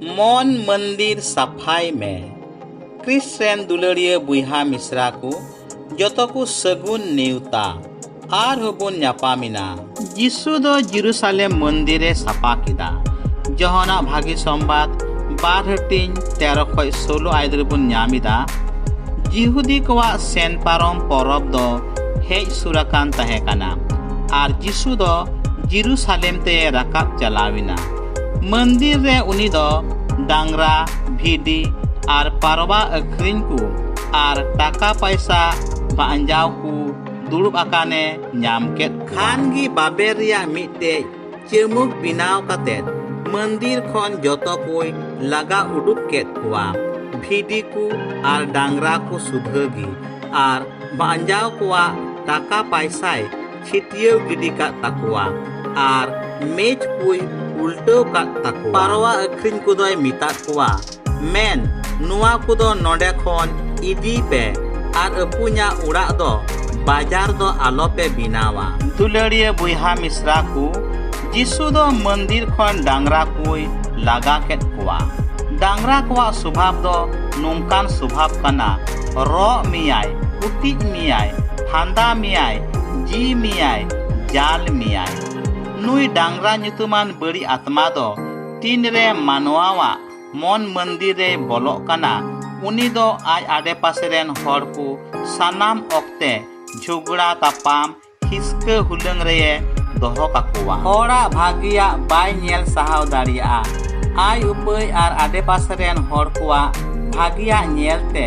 ᱢᱚᱱ ᱢᱚᱱᱫᱤᱨ ᱥᱟᱯᱷᱟᱭ ᱢᱮ ᱠᱨᱤᱥ ᱨᱮᱱ ᱫᱩᱞᱟᱹᱲᱤᱭᱟᱹ ᱵᱚᱭᱦᱟ ᱢᱤᱥᱨᱟ ᱠᱚ ᱡᱚᱛᱚ ᱠᱚ ᱥᱟᱹᱜᱩᱱ ᱱᱮᱣᱛᱟ ᱟᱨ ᱦᱚᱸᱵᱚᱱ ᱧᱟᱯᱟᱢᱮᱱᱟ ᱡᱤᱥᱩ ᱫᱚ ᱡᱤᱨᱩᱥᱟᱞᱮᱢ ᱢᱚᱱᱫᱤᱨᱮ ᱥᱟᱯᱷᱟ ᱠᱮᱫᱟ ᱡᱚᱦᱚᱱᱟᱜ ᱵᱷᱟᱹᱜᱤ ᱥᱚᱢᱵᱟᱫ ᱵᱟᱨ ᱦᱟᱹᱴᱤᱧ ᱛᱮᱨᱚ ᱠᱷᱚᱱ ᱥᱳᱞᱳ ᱟᱭᱫ ᱨᱮᱵᱚᱱ ᱧᱟᱢ ᱮᱫᱟ ᱡᱤᱦᱩᱫᱤ ᱠᱚᱣᱟᱜ ᱥᱮᱱ ᱯᱟᱨᱚᱢ ᱯᱚᱨᱚᱵᱽ ᱫᱚ ᱦᱮᱡ ᱥᱩᱨ ᱟᱠᱟᱱ ᱛᱟᱦᱮᱸ ᱠᱟᱱᱟ ᱟᱨ ᱡᱤᱥᱩ ᱫᱚ ᱡᱤᱨᱩᱥᱟᱞᱮᱢ ᱛᱮ ᱨᱟᱠᱟᱵ ᱪᱟᱞᱟᱣᱮᱱᱟ ᱢᱚᱱᱫᱤᱨ ᱨᱮ ᱩᱱᱤ ᱫᱚ ᱰᱟᱝᱨᱟ ᱵᱷᱤᱰᱤ ᱟᱨ ᱯᱟᱨᱣᱟ ᱟᱹᱠᱷᱨᱤᱧ ᱠᱚ ᱟᱨ ᱴᱟᱠᱟ ᱯᱟᱭᱥᱟ ᱵᱟᱧᱡᱟᱣ ᱠᱚ ᱫᱩᱲᱩᱵ ᱟᱠᱟᱱᱮ ᱧᱟᱢ ᱠᱮᱫ ᱠᱷᱟᱱ ᱜᱮ ᱵᱟᱵᱮᱨ ᱨᱮᱭᱟᱜ ᱢᱤᱫᱴᱮᱡ ᱪᱟᱹᱢᱩᱠ ᱵᱮᱱᱟᱣ ᱠᱟᱛᱮ ᱢᱚᱱᱫᱤᱨ ᱠᱷᱚᱱ ᱡᱚᱛᱚ ᱠᱚᱭ ᱞᱟᱜᱟ ᱩᱰᱩᱠ ᱠᱮᱫ ᱠᱚᱣᱟ ᱵᱷᱤᱰᱤ ᱠᱚ ᱟᱨ ᱰᱟᱝᱨᱟ ᱠᱚ ᱥᱩᱫᱷᱟᱹ ᱜᱮ ᱟᱨ ᱵᱟᱧᱡᱟᱣ ᱠᱚᱣᱟᱜ ᱴᱟᱠᱟ ᱯᱟᱭᱥᱟᱭ ᱪᱷᱤᱛᱭᱟᱹᱣ ᱜᱤᱰᱤ ᱠᱟᱫ ᱛᱟᱠᱚᱣᱟ ᱟᱨ ᱢᱮᱡᱽ ᱠᱚᱭ ᱩᱞᱴᱟᱹᱣ ᱠᱟᱫ ᱛᱟᱠᱚᱣᱟ ᱯᱟᱨᱣᱟ ᱟᱹᱠᱷᱨᱤᱧ ᱠᱚᱫᱚᱭ ᱢᱮᱛᱟᱫ ᱠᱚᱣᱟ ᱢᱮᱱ ᱱᱚᱣᱟ ᱠᱚᱫᱚ ᱱᱚᱰᱮ ᱠᱷᱚᱱ ᱤᱫᱤᱭ ᱯᱮ ᱟᱨ ᱟᱹᱯᱩᱧᱟᱜ ᱚᱲᱟᱜ ᱫᱚ ᱵᱟᱡᱟᱨ ᱫᱚ ᱟᱞᱚ ᱯᱮ ᱵᱮᱱᱟᱣᱟ ᱫᱩᱞᱟᱹᱲᱤᱭᱟᱹ ᱵᱚᱭᱦᱟ ᱢᱤᱥᱨᱟ ᱠᱚ ᱡᱤᱥᱩ ᱫᱚ ᱢᱚᱱᱫᱤᱨ ᱠᱷᱚᱱ ᱰᱟᱝᱨᱟ ᱠᱚᱭ ᱞᱟᱜᱟ ᱠᱮᱫ ᱠᱚᱣᱟ ᱰᱟᱝᱨᱟ ᱠᱚᱣᱟᱜ ᱥᱚᱵᱷᱟᱵ ᱫᱚ ᱱᱚᱝᱠᱟᱱ ᱥᱚᱵᱷᱟᱵ ᱠᱟᱱᱟ ᱨᱚᱜ ᱢᱮᱭᱟᱭ ᱠᱩᱴᱤᱡ ᱢᱮᱭᱟᱭ ᱯᱷᱟᱸᱫᱟ ᱢᱮᱭᱟᱭ ᱡᱤ ᱢᱮᱭᱟᱭ ᱡᱟᱞ ᱢᱮᱭᱟᱭ ᱱᱩᱭ ᱰᱟᱝᱨᱟ ᱧᱩᱛᱩᱢᱟᱱ ᱵᱟᱹᱲᱤ ᱟᱛᱢᱟ ᱫᱚ ᱛᱤᱱ ᱨᱮ ᱢᱟᱱᱣᱟᱣᱟᱜ ᱢᱚᱱ ᱢᱚᱱᱫᱤᱨ ᱨᱮ ᱵᱚᱞᱚᱜ ᱠᱟᱱᱟ ᱩᱱᱤ ᱫᱚ ᱟᱡ ᱟᱰᱮ ᱯᱟᱥᱮ ᱨᱮᱱ ᱦᱚᱲ ᱠᱚ ᱥᱟᱱᱟᱢ ᱚᱠᱛᱮ ᱡᱷᱚᱜᱽᱲᱟ ᱛᱟᱯᱟᱢ ᱦᱤᱥᱠᱟᱹ ᱦᱩᱞᱟᱹᱝ ᱨᱮ ᱫᱚᱦᱚ ᱠᱟᱠᱚᱣᱟ ᱦᱚᱲᱟᱜ ᱵᱷᱟᱹᱜᱤᱭᱟᱜ ᱵᱟᱭ ᱧᱮᱞ ᱥᱟᱦᱟᱣ ᱫᱟᱲᱮᱭᱟᱜᱼᱟ ᱟᱡ ᱩᱯᱟᱹᱭ ᱟᱨ ᱟᱰᱮ ᱯᱟᱥᱮ ᱨᱮᱱ ᱦᱚᱲ ᱠᱚᱣᱟᱜ ᱵᱷᱟᱹᱜᱤᱭᱟᱜ ᱧᱮᱞ ᱛᱮ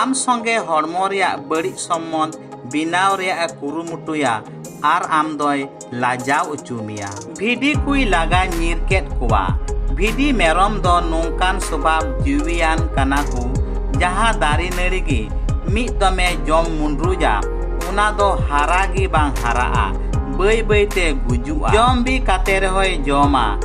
ᱟᱢ ᱥᱚᱸᱜᱮ ᱦᱚᱲᱢᱚ ᱨᱮᱭᱟᱜ ᱵᱟᱹᱲᱤᱡ ᱥᱚᱢᱵᱚᱱᱫᱷ ᱵᱮᱱᱟᱣ ᱨᱮᱭᱟᱜ ᱮ ᱠᱩᱨᱩᱢᱩᱴᱩᱭᱟ ᱟᱨ ᱟᱢ ᱫᱚᱭ ᱞᱟᱡᱟᱣ ᱚᱪᱚ ᱢᱮᱭᱟ ᱵᱷᱤᱰᱤ ᱠᱚᱭ ᱞᱟᱜᱟ ᱧᱤᱨ ᱠᱮᱫ ᱠᱚᱣᱟ ᱵᱷᱤᱰᱤ ᱢᱮᱨᱚᱢ ᱫᱚ ᱱᱚᱝᱠᱟᱱ ᱥᱚᱵᱷᱟᱵ ᱡᱤᱣᱤᱭᱟᱱ ᱠᱟᱱᱟ ᱠᱚ ᱡᱟᱦᱟᱸ ᱫᱟᱨᱮ ᱱᱟᱹᱲᱤ ᱜᱮ ᱢᱤᱫ ᱫᱚᱢᱮ ᱡᱚᱢ ᱢᱩᱸᱰᱨᱩᱡᱟ ᱚᱱᱟ ᱫᱚ ᱦᱟᱨᱟ ᱜᱮ ᱵᱟᱝ ᱦᱟᱨᱟᱜᱼᱟ ᱵᱟᱹᱭ ᱵᱟᱹᱭ ᱛᱮ ᱜᱩᱡᱩᱜᱼᱟ ᱡᱚᱢ ᱵᱤ ᱠᱟᱛᱮ ᱨᱮᱦᱚᱸᱭ ᱡᱚᱢᱟ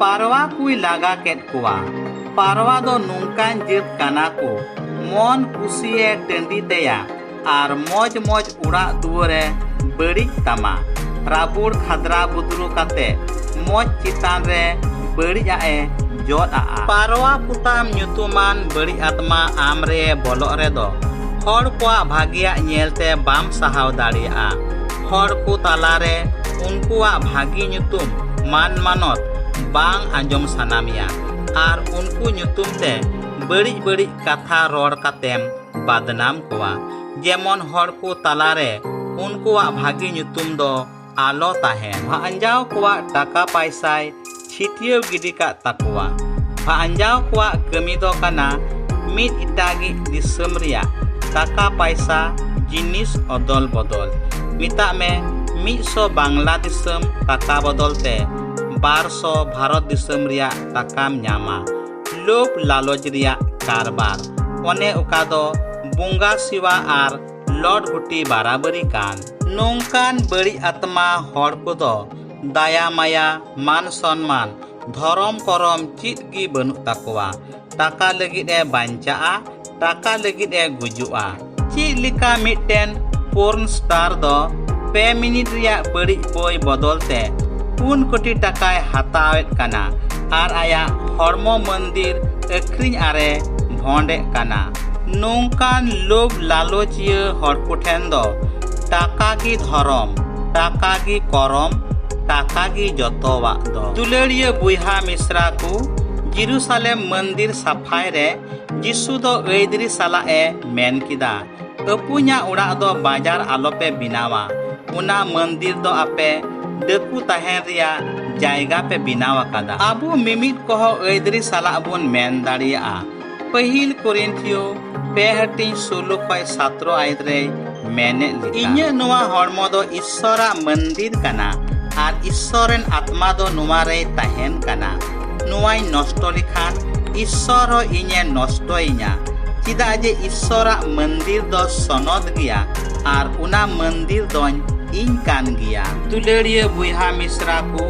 ᱯᱟᱨᱣᱟ ᱠᱚᱭ ᱞᱟᱜᱟ ᱠᱮᱫ ᱠᱚᱣᱟ᱾ ᱯᱟᱨᱣᱟ ᱫᱚ ᱱᱚᱝᱠᱟᱱ ᱡᱟᱹᱛ ᱠᱟᱱᱟ ᱠᱚ ᱢᱚᱱ ᱠᱩᱥᱤ ᱮ ᱴᱟᱺᱰᱤ ᱛᱟᱭᱟ ᱟᱨ ᱢᱚᱡᱽ ᱢᱚᱡᱽ ᱚᱲᱟᱜ ᱫᱩᱣᱟᱹᱨ ᱮ ᱵᱟᱹᱲᱤᱡ ᱛᱟᱢᱟ᱾ ᱨᱟᱵᱩᱲ ᱠᱷᱟᱫᱽᱨᱟ ᱵᱩᱫᱽᱨᱩ ᱠᱟᱛᱮ ᱢᱚᱡᱽ ᱪᱮᱛᱟᱱ ᱨᱮ ᱵᱟᱹᱲᱤᱡ ᱟᱜ ᱮ ᱡᱚᱫ ᱟᱜᱼᱟ᱾ ᱯᱟᱨᱣᱟ ᱯᱚᱛᱟᱢ ᱧᱩᱛᱩᱢᱟᱱ ᱵᱟᱹᱲᱤᱡ ᱟᱛᱢᱟ ᱟᱢ ᱨᱮ ᱵᱚᱞᱚᱜ ᱨᱮᱫᱚ ᱦᱚᱲ ᱠᱚᱣᱟᱜ ᱵᱷᱟᱜᱮᱭᱟᱜ ᱧᱮᱞ ᱛᱮ ᱵᱟᱢ ᱥᱟᱦᱟᱣ ᱫᱟᱲᱮᱭᱟᱜᱼᱟ᱾ ᱦᱚᱲ ᱠᱚ ᱛᱟᱞᱟᱨᱮ ᱩᱱᱠᱩᱣᱟᱜ ᱵᱷᱟᱹᱜᱤ ᱧᱩᱛᱩᱢ ᱢᱟᱱ ᱢᱟᱱᱚᱛ ᱵᱟᱝ ᱟᱸᱡᱚᱢ ᱥᱟᱱᱟ ᱢᱮᱭᱟ ᱟᱨ ᱩᱱᱠᱩ ᱧᱩᱛᱩᱢ ᱛᱮ ᱵᱟᱹᱲᱤᱡ ᱵᱟᱹᱲᱤᱡ ᱠᱟᱛᱷᱟ ᱨᱚᱲ ᱠᱟᱛᱮᱢ ᱵᱟᱫᱱᱟᱢ ᱠᱚᱣᱟ ᱡᱮᱢᱚᱱ ᱦᱚᱲ ᱠᱚ ᱛᱟᱞᱟᱨᱮ ᱩᱱᱠᱩᱣᱟᱜ ᱵᱷᱟᱹᱜᱤ ᱧᱩᱛᱩᱢ ᱫᱚ ᱟᱞᱚ ᱛᱟᱦᱮᱱ ᱟᱸᱡᱟᱣ ᱠᱚᱣᱟᱜ ᱴᱟᱠᱟ ᱯᱟᱭᱥᱟᱭ ᱪᱷᱤᱛᱭᱟᱹᱣ ᱜᱤᱰᱤ ᱠᱟᱜ ᱛᱟᱠᱚᱣᱟ ᱵᱷᱟᱧᱡᱟᱣ ᱠᱚᱣᱟᱜ ᱠᱟᱹᱢᱤ ᱫᱚ ᱠᱟᱱᱟ ᱢᱤᱫ ᱮᱴᱟᱜᱤᱡ ᱫᱤᱥᱚᱢ ᱨᱮᱭᱟᱜ ᱴᱟᱠᱟ ᱯᱟᱭᱥᱟ ᱡᱤᱱᱤᱥ ᱚᱫᱚᱞ ᱵᱚᱫᱚᱞ ᱢᱮᱛᱟᱜ ᱢᱮ ᱢᱤᱫ ᱥᱚ ᱵᱟᱝᱞᱟ ᱫᱤᱥᱚᱢ ᱴᱟᱠᱟ ᱵᱚᱫᱚᱞ ᱛᱮ ᱵᱟᱨ ᱥᱚ ᱵᱷᱟᱨᱚᱛ ᱫᱤᱥᱚᱢ ᱨᱮᱭᱟᱜ ᱴᱟᱠᱟᱢ ᱧᱟᱢᱟ ᱞᱳᱵ ᱞᱟᱞᱚᱪ ᱨᱮᱭᱟᱜ ᱠᱟᱨᱵᱟᱨ ᱚᱱᱮ ᱚᱠᱟ ᱫᱚ ᱵᱚᱸᱜᱟ ᱥᱤᱣᱟ ᱟᱨ ᱞᱚᱴ ᱜᱩᱴᱤ ᱵᱟᱨᱟᱵᱟᱹᱨᱤ ᱠᱟᱱ ᱱᱚᱝᱠᱟᱱ ᱵᱟᱹᱲᱤᱡ ᱟᱛᱢᱟ ᱦᱚᱲ ᱠᱚᱫᱚ ᱫᱟᱭᱟ ᱢᱟᱭᱟ ᱢᱟᱱ ᱥᱚᱱᱢᱟᱱ ᱫᱷᱚᱨᱚᱢ ᱠᱚᱨᱚᱢ ᱪᱮᱫ ᱜᱮ ᱵᱟᱹᱱᱩᱜ ᱛᱟᱠᱚᱣᱟ ᱴᱟᱠᱟ ᱞᱟᱹᱜᱤᱫ ᱮ ᱵᱟᱧᱪᱟᱜᱼᱟ ᱴᱟᱠᱟ ᱞᱟᱹᱜᱤᱫ ᱮ ᱜᱩᱡᱩᱜᱼᱟ ᱪᱮᱫ ᱞᱮᱠᱟ ᱢᱤᱫᱴᱮᱱ ᱯᱳᱨᱱ ᱥᱴᱟᱨ ᱫᱚ ᱯᱮ ᱢᱤᱱᱤᱴ ᱨᱮᱭᱟᱜ ᱵᱟᱹᱲᱤᱡ ᱵᱳᱭ ᱵᱚᱫᱚᱞ ᱛᱮ ᱯᱩᱱ ᱠᱳᱴᱤ ᱴᱟᱠᱟᱭ ᱦᱟᱛᱟᱣᱮᱫ ᱠᱟᱱᱟ ᱟᱨ ᱟᱭᱟᱜ ᱦᱚᱲᱢᱚ ᱢᱚᱱᱫᱤᱨ ᱟᱹᱠᱷᱨᱤᱧ ᱟᱨᱮ ᱵᱷᱚᱸᱰᱮᱫ ᱠᱟᱱᱟ ᱱᱚᱝᱠᱟᱱ ᱞᱳᱵᱷ ᱞᱟᱞᱚᱪᱤᱭᱟᱹ ᱦᱚᱲ ᱠᱚᱴᱷᱮᱱ ᱫᱚ ᱴᱟᱠᱟ ᱜᱮ ᱫᱷᱚᱨᱚᱢ ᱴᱟᱠᱟ ᱜᱮ ᱠᱚᱨᱚᱢ ᱴᱟᱠᱟ ᱜᱮ ᱡᱚᱛᱚᱣᱟᱜ ᱫᱚ ᱫᱩᱞᱟᱹᱲᱤᱭᱟᱹ ᱵᱚᱭᱦᱟ ᱢᱤᱥᱨᱟ ᱠᱚ ᱡᱤᱨᱩᱥᱟᱞᱮᱢ ᱢᱚᱱᱫᱤᱨ ᱥᱟᱯᱷᱟᱭ ᱨᱮ ᱡᱤᱥᱩ ᱫᱚ ᱟᱹᱭᱫᱨᱤ ᱥᱟᱞᱟᱜ ᱮ ᱢᱮᱱ ᱠᱮᱫᱟ ᱟᱹᱯᱩᱧᱟᱜ ᱚᱲᱟᱜ ᱫᱚ ᱵᱟᱡᱟᱨ ᱟᱞᱚᱯᱮ ᱵᱮᱱᱟᱣᱟ ᱚᱱᱟ ᱢᱚᱱᱫᱤᱨ ᱫᱚ ᱟᱯᱮ ᱰᱟᱹᱠᱩ ᱛᱟᱦᱮᱱ ᱨᱮᱭᱟᱜ ᱡᱟᱭᱜᱟ ᱯᱮ ᱵᱮᱱᱟᱣ ᱟᱠᱟᱫᱟ ᱟᱵᱚ ᱢᱤᱢᱤᱫ ᱠᱚᱦᱚᱸ ᱟᱹᱭᱫᱨᱤ ᱥᱟᱞᱟᱜ ᱵᱚᱱ ᱢᱮᱱ ᱫᱟᱲᱮᱭᱟᱜᱼᱟ ᱯᱟᱹᱦᱤᱞ ᱠᱚᱨᱤᱱᱛᱷᱤᱭᱚ ᱯᱮ ᱦᱟᱹᱴᱤᱧ ᱥᱳᱞᱳ ᱠᱷᱚᱱ ᱥᱟᱛᱨᱚ ᱟᱭᱮᱛ ᱨᱮᱭ ᱢᱮᱱᱮᱫ ᱞᱮᱠᱟ ᱤᱧᱟᱹᱜ ᱱᱚᱣᱟ ᱦᱚᱲᱢᱚ ᱫᱚ ᱤᱥᱥᱚᱨᱟᱜ ᱢᱚᱱᱫᱤᱨ ᱠᱟᱱᱟ ᱟᱨ ᱤᱥᱥᱚᱨ ᱨᱮᱱ ᱟᱛᱢᱟ ᱫᱚ ᱱᱚᱣᱟ ᱨᱮᱭ ᱛᱟᱦᱮᱱ ᱠᱟᱱᱟ ᱱᱚᱣᱟᱧ ᱱᱚᱥᱴᱚ ᱞᱮᱠᱷᱟᱱ ᱤᱥᱥᱚᱨ ᱦᱚᱸ ᱤᱧᱮ ᱱᱚᱥᱴᱚᱭᱤᱧᱟ ᱪᱮᱫᱟᱜ ᱡᱮ ᱤᱥᱥᱚᱨᱟᱜ ᱢᱚᱱᱫᱤᱨ ᱫᱚ ᱥᱚᱱᱚᱛ ᱜᱮᱭᱟ ᱟᱨ ᱚᱱᱟ ᱢᱚᱱᱫᱤᱨ ᱫᱚᱧ ᱤᱧ ᱠᱟᱱ ᱜᱮᱭᱟ ᱫᱩᱞᱟᱹᱲᱤᱭᱟᱹ ᱵᱚᱭᱦᱟ ᱢᱤᱥᱨᱟ ᱠᱚ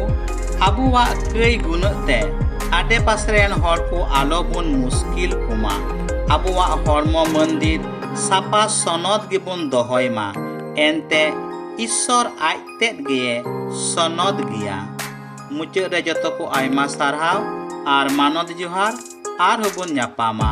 ᱟᱵᱚᱣᱟᱜ ᱠᱟᱹᱭ ᱜᱩᱱᱟᱹᱜ ᱛᱮ ᱟᱰᱮ ᱯᱟᱥᱮ ᱨᱮᱱ ᱦᱚᱲ ᱠᱚ ᱟᱞᱚ ᱵᱚᱱ ᱢᱩᱥᱠᱤᱞ ᱠᱚᱢᱟ ᱟᱵᱚᱣᱟᱜ ᱦᱚᱲᱢᱚ ᱢᱚᱱᱫᱤᱨ ᱥᱟᱯᱟ ᱥᱚᱱᱚᱛ ᱜᱮᱵᱚᱱ ᱫᱚᱦᱚᱭ ᱢᱟ ᱮᱱᱛᱮ ᱤᱥᱥᱚᱨ ᱟᱡ ᱛᱮᱫ ᱜᱮ ᱥᱚᱱᱚᱛ ᱜᱮᱭᱟ ᱢᱩᱪᱟᱹᱫ ᱨᱮ ᱡᱚᱛᱚ ᱠᱚ ᱟᱭᱢᱟ ᱥᱟᱨᱦᱟᱣ ᱟᱨ ᱢᱟᱱᱚᱛ ᱡᱚᱦᱟᱨ ᱟᱨᱦᱚᱸ ᱵᱚᱱ ᱧᱟᱯᱟᱢᱟ